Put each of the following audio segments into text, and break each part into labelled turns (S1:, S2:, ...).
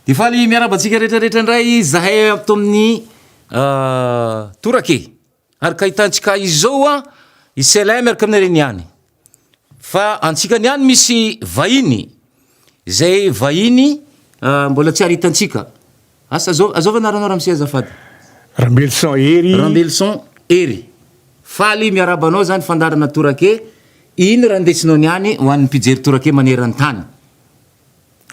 S1: de faly miaraba antsika retraretra indray zahay ato amin'ny ah, torake Ary ka hitantsika izao hoa i Selay miaraka amin'ny reny ihany. Fa antsika ny ihany misy vahiny, izay vahiny mbola tsy ary hitantsika. Asa zao, azao ve anaranao ramose azafady? Rambelison
S2: Hery. Rambelison Hery.
S1: Faly miarahaba anao zany fandaharana torake, iny raha ndesinao ny any ho an'ny mpijery torake maneran-tany.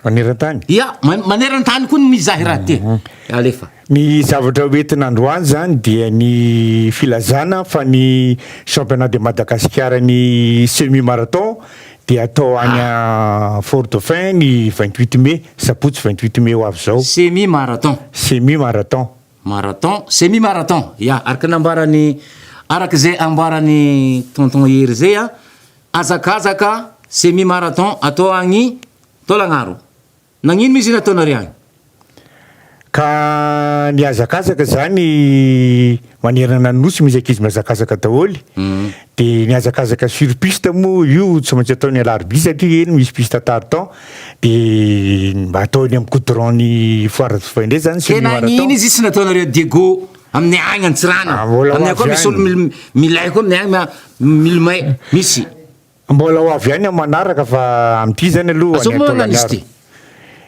S2: Maneran-tany? Ia,
S1: maneran-tany koa ny mizaha raha ity. Mhm. Alefa. Ny zavatra
S2: hoentina androany zany dia ny filazana fa ny championnat de Madagasikara ny semi marathon dia atao any ah. Fort Dauphin ny 28 mai, sabotsy 28 mai ho avy zao. Semi marathon.
S1: Semi marathon. Marathon, semi marathon. Ia, araka ny ambaran'ny araka izay ambaran'ny tonton Hery zay a, Hazakazaka semi marathon atao agny Taolagnaro. Nagnino izy nataonareo agny? Ka
S2: mihazakazaka zany manerana ny nosy misy ankizy mihazakazaka daholo de ny hazakazaka sur piste mo io tsy maintsy atao ny alarobia satria eny misy piste tartan de mba atao eny am goudron ny foire de fin d'annee zany semi marathon. Tena agnino izy tsy
S1: nataonareo Diego Aminay agny Antsiranana. Ah, mbola ho Aminay koa avy misy olo any. mil- milay koa aminay agny ma- milomay. Misy. Mbola ho
S2: avy any amin'ny manaraka fa amin'ity zany aloha Azao ny moa an'Izy Taolagnaro.
S1: ity?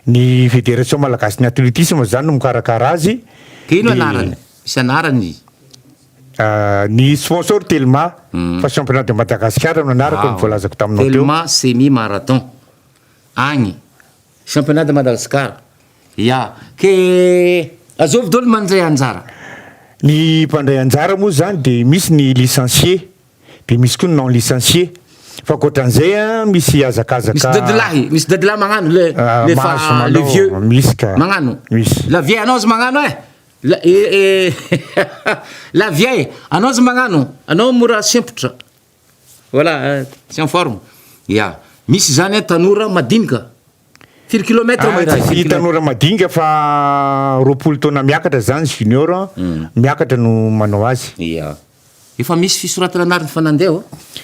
S1: Ny
S2: Fédération Malagasy ny Athlétisme zany no mikarakara azy. Dia ino Dia, anarany?
S1: Misy anarany izy. ah,
S2: ny sponsor Telma fa championnat de Madagascar no anarako ny voalazako taminao teo. Telma semi marathon.
S1: Agny. Championnat de Madagascar ya ke azovy dolo ny mandray anjara. Ny
S2: mpandray anjara moa zany de misy ny licencié de misy koa ny non licencié fa akoatran'izay a misy hazakazaka. Misy dadilahy misy dadilahy
S1: magnano le le fa le vieux magnano la
S2: vieille
S1: anao aza
S2: magnano
S1: eh la eh la vieille anao aza magnano anao mora sempotra. Voilà, tsy en forme. Ya. Misy izany an, tanora madinika. Firy kilomètre moa irahay? Tsy tanora
S2: madinika fa roapolo taona miakatra izany, junior, miakatra no manao azy. Ya.
S1: Efa misy fisoratana anarana fa nandeha va?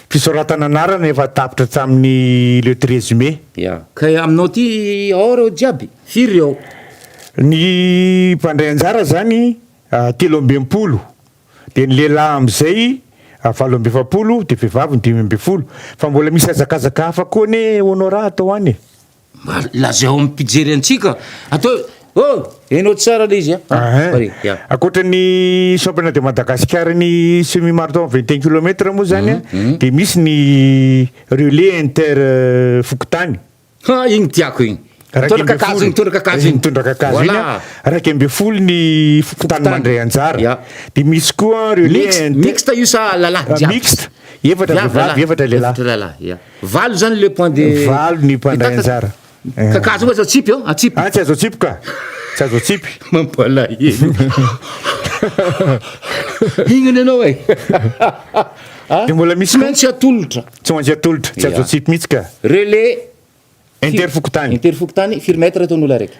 S1: Fisoratana
S2: anarana efa tapitra hatramin'ny le treize mai. Ya. Ka aminao
S1: aty ao ireo jiaby? Firy ireo? Ny
S2: mpandray anjara izany telo amby enimpolo Dia ny lehilahy amin'izay valo amby efapolo dia vehivavy ny dimy ambin'ny folo. Fa mbola misy hazakazaka hafa koa anie Honora atao any e! Mba lazao
S1: amin'ny mpijery antsika atao hoe Oh! Enao tsara le izy a! Ahh! Ankoatra
S2: ny Championnat de Madagascar ny semi marathon vingt et un kilomètre moa zany a dia misy ny relais inter fokontany. Ha igny tiako
S1: igny. Mitondra kakazo igny, mitondra kakazo igny. Mitondra kakazo igny. Voilà.
S2: Raika ambin'ny folo ny fokontany Fokontany. mandray anjara. Ya. Dia misy koa ireo Mix, le- mixte io sa
S1: lalahy Ah, jiaby? mixte. Efatra
S2: Jiaby vehivavy, lalahy. efatra lehilahy. Efatra lehilahy, ya. Valo zany le
S1: point de Valo ny mpandray Mitata-
S2: anjara. Eh. Kakazo io aza
S1: tsipy eo, atsipy. Ah, tsy azo atsipy ka.
S2: Tsy azo atsipy. Mampalahelo.
S1: Hignana ianao e.
S2: Dia mbola misy Tsy koa. maintsy atolotra.
S1: Tsy ho an'izay atolotra, tsy
S2: azo atsipy mihitsy ka. Relais
S1: Inter
S2: fokontany. Inter fokontany,
S1: firy mètre teo ny olona araiky?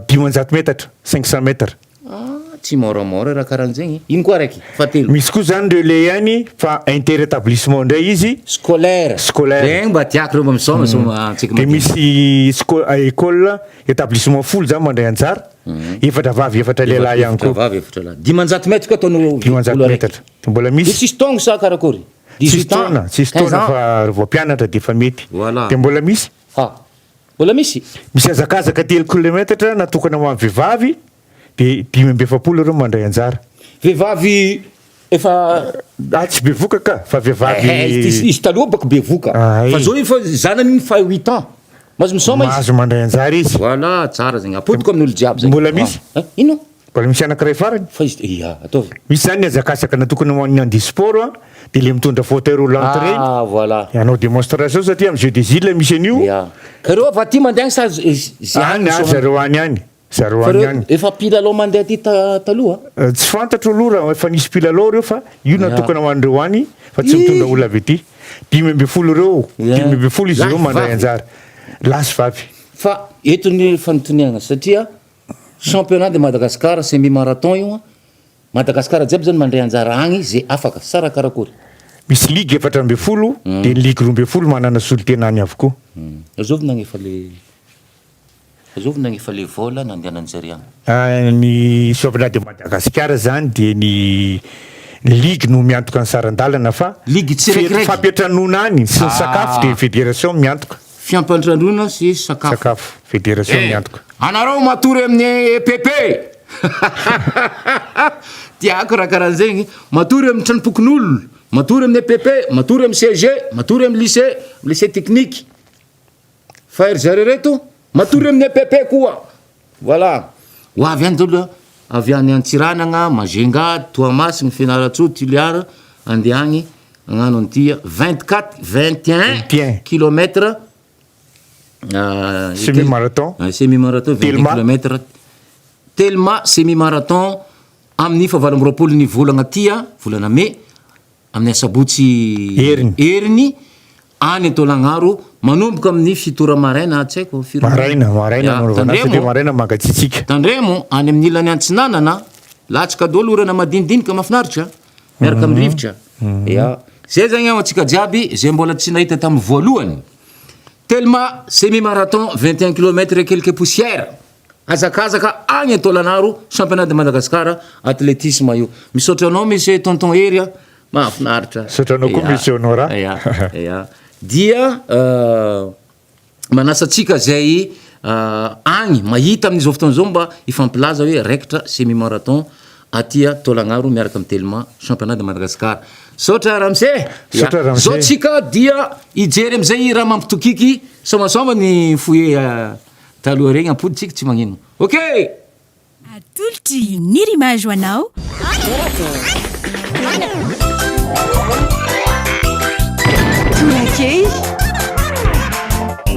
S1: Dimanjato
S2: metatra, cinq cents mètres. Ah, tsy
S1: môramôra raha karahan'izegny. Ino koa araiky? Fahatelo. Misy koa zany relais
S2: ihany fa inter établissement indray izy. Scolaire. Scolaire.
S1: Regny mba tiako reo mba misaoma sao antsika madinika. Dia misy
S2: sco- école, établissement folo zany mandray anjara. Efatra vavy, efatra lehilahy ihany Efatra koa. vavy, efatra lahy. Dimanjato mètre koa
S1: ataon'olo olo araiky. Dimanjato metatra.
S2: Mbola Dia misy. tsisy taongo sa karakôry?
S1: Tsisy taona, tsisy
S2: taona fa ry vao mpianatra dia efa mety. Dia mbola misy? Ah! Mbola
S1: misy? Misy hazakazaka telo
S2: kilometatra natokana ho an'ny vehivavy dia dimy amby efapolo ireo mandray anjara. Vehivavy
S1: efa. Ah, tsy
S2: bevoka ka, fa vehivavy. Eh, eh, izy, izy taloha bako
S1: bevoka. Ah, eh. Fa zao efa zanany iny fa huit ans. Mahazo misaoma izy. Mahazo mandray anjara izy.
S2: Voilà, tsara zegny.
S1: Apodiko amin'olo jiaby zegny. Mbola misy? Ah, eh, ino?
S2: Mbola misy
S1: anankiray
S2: farany. Fa izy, ia, ataovy.
S1: Misy zany ny hazakazaka
S2: natokana ho an'ny handeha sport a, dia le mitondra fauteuil roulant ireny. Ah, voilà. Hanao
S1: demonstration
S2: satria amin'ny jeux des îles misy an'io. Ia. Ka ireo avy aty
S1: mandeha any sa ze any. Any, any zareo
S2: any any. Zareo any any. Fa ireo efa mpilalao mandeha aty
S1: ta taloha? Tsy fantatro
S2: aloha raha efa nisy mpilalao ireo fa io natokana ho an'ireo any fa tsy mitondra olona avy aty. Dimy ambin'ny folo ireo, dimy ambin'ny folo izy ireo mandray anjara. Lahy sy vavy. Fa eto
S1: ny fanontaniana satria Championnat de Madagascar semi marathon io an, Madagascar jiaby zany mandray anjara agny ze afaka, sa raha karakory? Misy ligue
S2: efatra ambin'ny folo dia ny ligue roa ambin'ny folo manana
S1: solontena
S2: any avokoa. Azovina agny efa le, azovina
S1: agny efa le vol nandehanan'i zary agny. Ny Championnat
S2: de Madagascar zany dia ny ligue no miantoka ny saran-dalana fa, Ligue tsiraikiraiky.
S1: fampiantranoana agny
S2: sy ny sakafo dia ny federation miantoka. fiampandrandoana
S1: sy sakafo. Sakafo. Federation
S2: ny antoka. Eh! Anareo matory
S1: amin'ny EPP e! Tiako raha karahan'zegny, matory amin'ny tranompokonolona, matory amin'ny EPP, matory amin'ny CEG, matory amin'ny lycée, lycée technique. Fa ry zareo reto matory amin'ny EPP koa. Voilà! Ho avy any dolo avy any Antsiranana, Majunga, Toamasina, Fianarantsoa, Toliara andeha agny agnano an'ity vingt quatre, vingt et un kilomètre
S2: semi marathon, semi marathon vingt
S1: deux kilomètre telma semi marathon amin'ny fahavalo amby roapolo ny volagna ty a, volana mey, amin'ny asabotsy heriny. Any Antoelagnaro, manomboka amin'ny fito ora maraina atsy haiko firy ora. Maraina, maraina no
S2: anaovana azy satria maraina mangatsiatsiaka. Tandremo, any amin'ny
S1: ilany antsinanana, latsaka daholo orana madinidinika mafinaritra miaraka amin'ny rivotra. Ya. Zay zany ho antsika jiaby zay mbola tsy nahita tamin'ny voalohany. Telma semi marathon vingt et un kilomètre et quelques poussières, hazakazaka any Antoelagnaro, championnat de Madagascar, athlétisme io. Misaotra anao Monsieur Tonton Hery a. Mahafinaritra. Misaotra anao koa Monsieur
S2: Honora. Ya, ya.
S1: Dia manasa antsika izay agny mahita amin'izao fotoana izao mba hifampilaza hoe raikitra semi marathon aty Taolagnaro miaraka amin'ny Telma Championnat de Madagascar. Misaotra Ramose. Misaotra Ramose. Zao tsika dia hijery amin'izay raha mampitokiky soamasoama ny foyer taloha regny ampodintsika tsy magnino. Okay!
S3: Atolotry ny Rimage ho anao. Torakely.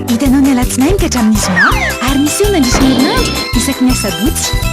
S3: Hitanao ny alatsinainy ka hatramin'ny zoma ary miseho mandritra ny herinandro isaky ny asabotsy.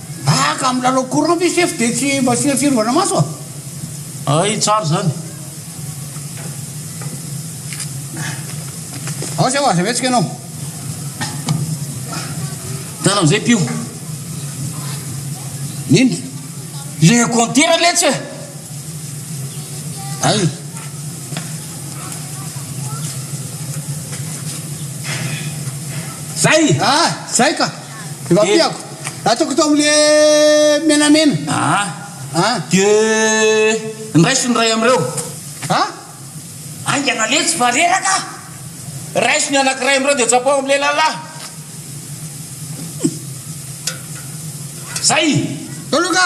S1: Haka am lalao
S4: courant ve sefo de tsy mba asiana fiarovana maso a? Hay
S1: tsara zany.
S4: Ao zay oa aza mihetsika enao.
S1: Tana amzay mpio.
S4: Nini? Le
S1: compteur letsy e! Hay. Zay! Ah! Zay ka!
S4: Efa piako. Ataoko tao amle menamena. Aa. Aa. Dia
S1: ndraiso ny iray amin'ireo. Aa. Haingana letsy fa reraka. Raiso ny anankiray amin'ireo dia tsapaho amin'ilay lalahy. Zay. Toloka.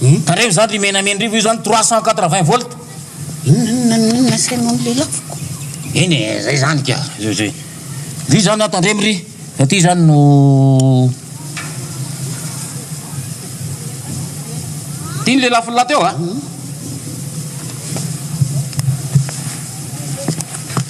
S1: Tandremo izany ry Menamendrivo, io zany trois cent quatre vingt volt. Inona inona no inona
S4: asainao ny lelafoko? Eny e, zay
S1: zany ka. Zay zay. Vy zany a tandremo ry. Aty zany no Ty ny lelafony lahateo a.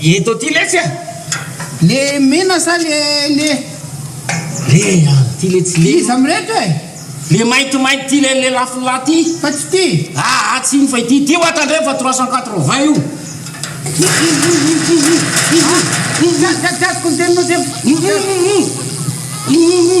S4: Eto aty letsy
S1: a! Le
S4: mena sa le le. Le
S1: avy ty letsy le. Iza mireto e?
S4: Le
S1: maintimainty ty le le lafin'la ty. Fa tsy ty.
S4: Aa tsy iny fa ity.
S1: Ity hoa tandremo fa trois cent quatre vingt io.
S4: Ihihihihihihihi. Gasy gasy gasy koa ny teninao dia. Ihihihihi. Ihihihi.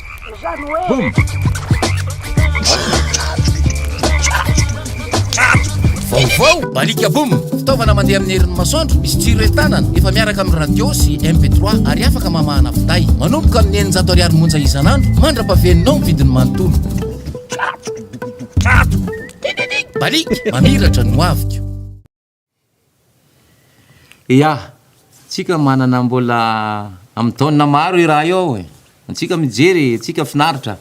S1: Boom! Vaovao! Balika Boom! Fitaovana mandeha amin'ny herin'ny masoandro, misy jiro entanana, efa miaraka amin'ny radio sy MP3 ary afaka mamahana finday. Manomboka amin'ny eninjato ariary monja isan'andro, mandra-pahaveninao ny vidiny manontolo. Balika! Mamiratra ny hoaviko! Ya, antsika manana mbola amin'ny taonina maro io raha io ao e, antsika mijery e, antsika finaritra,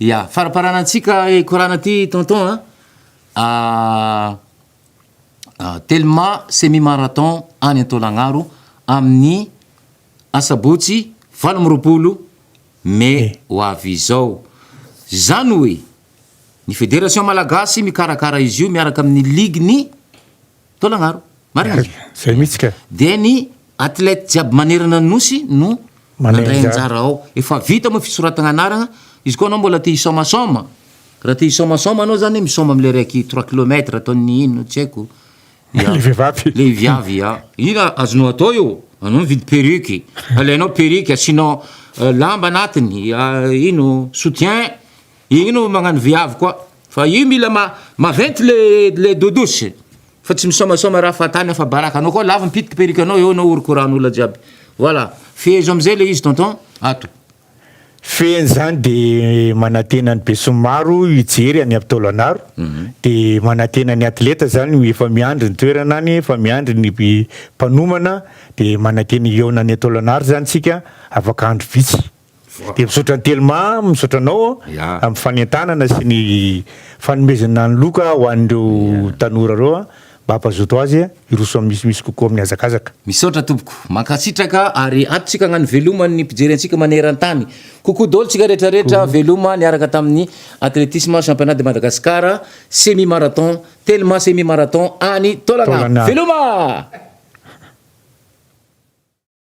S1: ya, faraparana antsika hikorana aty tonton a, Telma semi marathon any Antolagnaro amin'ny asabotsy valo amby roapolo mey ho avy izao, zany hoe. Ny Federation Malagasy mikarakara izy io miaraka amin'ny Ligue ny Taolagnaro. Marina izy io. Zay mihitsy ka.
S2: Dia ny
S1: Athlète jiaby manerana ny Nosy no mandray anjara ao. Efa vita moa fisoratagna anaragna. Izy koa anao mbola te hisaomasaoma, raha te hisaomasaoma anao zany misaoma amle raiky trois kilomètre ataon'ny ino tsy haiko. Ya. Le vehivavy. Le viavy ya. Ina azonao atao io? Anao mividy perruque, alainao perruque asianao lamba anatiny ino soutien Igny no magnano viavy koa fa io mila ma maventy le le dodosy fa tsy misaomasaoma raha fahatany afa baraka anao koa lavo ny pitiky perruque anao eo anao horokorano olona jiaby voilà fehezo amizay le izy tonton ato. Fehiny
S2: zany de manantena ny besinimaro hijery any avy taolagnaro de manantena ny atleta zany ho efa miandry ny toerana any efa miandry ny mpanomana de manantena hihaona any taolagnaro zany tsika afaka andro vitsy. Dia misaotra an'i Telma, misaotra anao amin'ny fanentanana sy ny fanomezana ny loka ho an'ireo tanora ireo mba hampazoto azy hiroso amin'ny misimisy kokoa amin'ny hazakazaka. Misaotra tompoko.
S1: Mankasitraka ary atotsika agnano veloma ny mpijery antsika maneran-tany. Coucou dôly tsika rehetra rehetra veloma niaraka tamin'ny Athlétisme Championnat de Madagascar Semi Marathon Telma Semi Marathon any Taolana. Veloma!